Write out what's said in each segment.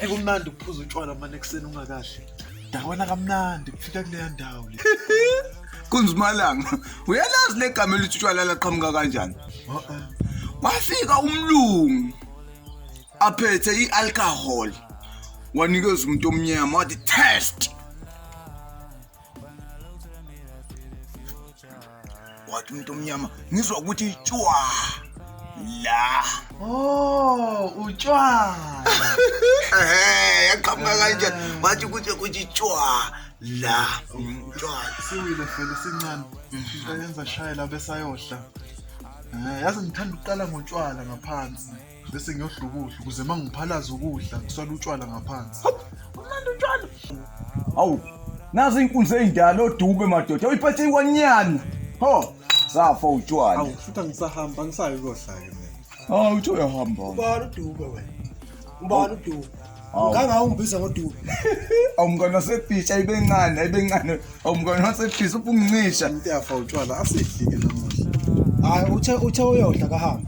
ekumnandi ukuphuza utshwala mane ekuseni ungakahle dakwana kamnandi kufika kuleya ndawo le kunzimalanga uyalazi le gama elithi utshwala laqhamuka kanjani wafika umlungu aphethe i-alcohol wanikeza umuntu omnyama wathi test wathi umuntu omnyama ngizwa ukuthi tshwa la oh utshwa ehe yaqhamuka kanje wathi ukuthi ukuthi tshwa la tshwa siwile fela sincane siyenza shayela besayohla eh, yazi ngithanda ukuqala ngotshwala ngaphansi bese ngiyodla ukudla ukuze uma ngiphalaza ukudla ngiswala utshwala ngaphansi umnandi utshwala awu nazi inkunzi eyindala odube madoda uyiphethe ikwanyana ho safa utshwala awu futhi angisahamba angisayo kohlake mina awu uthe uyahamba ubani udube wena ubani udube ngangawumbiza ngodubi awumkona sefish ayibencane ayibencane awumkona sefish uphungincisha into yafa utshwala asidlike namuhla hayi uthe uthe uyodla kahambe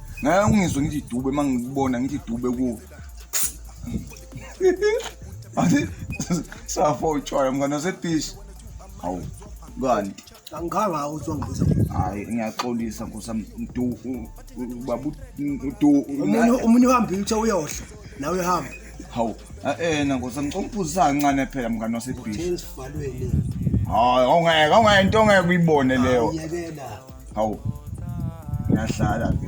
ngeke ungizwe ngithi idube uma ngikubona ngithi idube kuwe athi safo utshwala mngane wasebishi hawu kani angikhange awo uzongibiza hayi ngiyaxolisa nkosa mdu babu mdu umunye uhambile uthe uyohla nawe uhamba hawu ena nkosa ngicela ukuphuzisa kancane phela mngane wasebishi hayi awungeke awungeke into ongeke uyibone leyo hawu ngiyahlala ke